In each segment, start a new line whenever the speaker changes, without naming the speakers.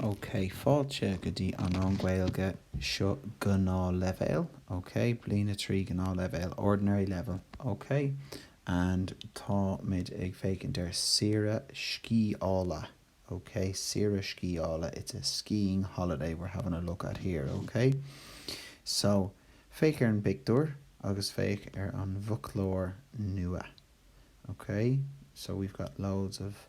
OK, fáilte go dtí an rang Gaeilge, seo gnáthleibhéal, OK, bliain a trí gnáthleibhéal, ordinary level, OK and táimid ag féachaint ar saoire sciála, OK, saoire sciála, it's a skiing holiday we're having a look at here, OK. So, féach ar an bpictiúr agus féach ar an bhfoclóir nua, OK, so we've got loads of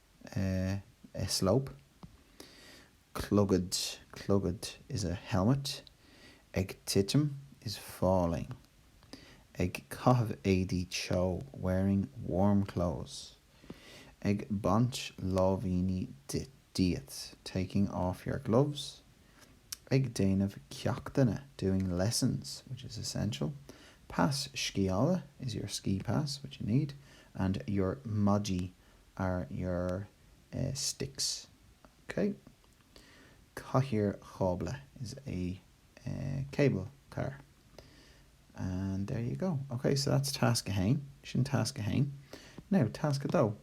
a slope, clogad, clogad is a helmet, ag titim, is falling, ag caitheamh éadaí teo, wearing warm clothes, ag baint láimhíní díot, taking off your gloves, ag déanamh ceachtanna, doing lessons, which is essential, pas sciála is your ski pass, which you need, and your maidí are your sticks, OK? Cathaoir chábla is a cable car. And there you go. OK, so that's task 1. Sin tasc 1. Now, tasc 2.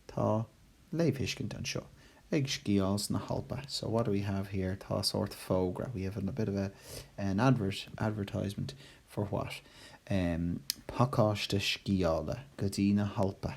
Tá léamhthuiscint anseo. Ag sciáil sna hAlpa. So what do we have here? Tá sórt fógra. We have a bit of a, an advert, advertisement for what? Um, pacáiste sciála go dtí na hAlpa.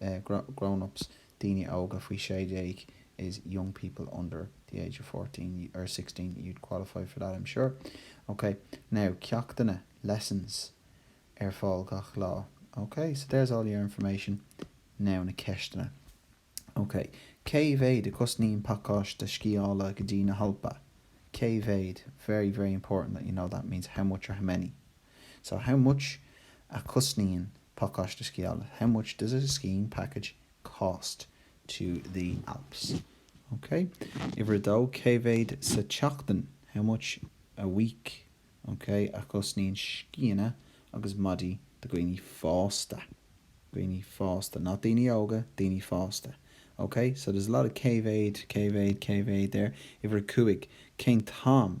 grownups daoine óga faoi sé déag is young people under the age of fourteen or sixteen, you'd qualify for that I'm sure. Ok, now ceachtanna, lessons, ar fáil gach lá. Ok, so there's all your information. Now na ceisteanna. Ok, cé mhéad a chosnaíonn pacáiste sciála go dtí na hAlpa? Cé mhéad? Very, very important that you know that, means how much or how many. So, how much a chosnaíonn pacáiste sciála? How much does a skiing package cost to the Alps? Ok. Uimhir a dó, cé mhéad sa tseachtain? How much a week, ok, a chosnaíonn scíonna agus maidí do dhaoine fásta? dhaoine fásta, not daoine óga, daoine fásta. Ok. So, there's a lot of cé mhéad, cé mhéad, cé mhéad there. Uimhir a cúig, cén t-am?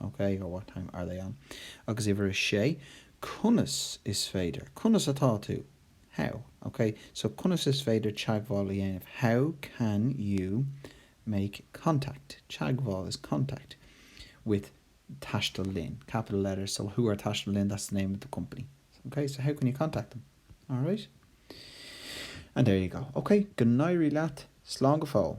OK, or what time are they on? Agus uimhir a sé, conas is féidir, conas atá tú? How? OK, so conas is féidir teagmháil a dhéanamh? How can you make contact? Teagmháil is contact. With taisteal linn, capital letters, so who are taisteal linn, that's the name of the company. OK, so how can you contact them? Alright? And there you go. OK, go n-éirí leat. Slán go fóill.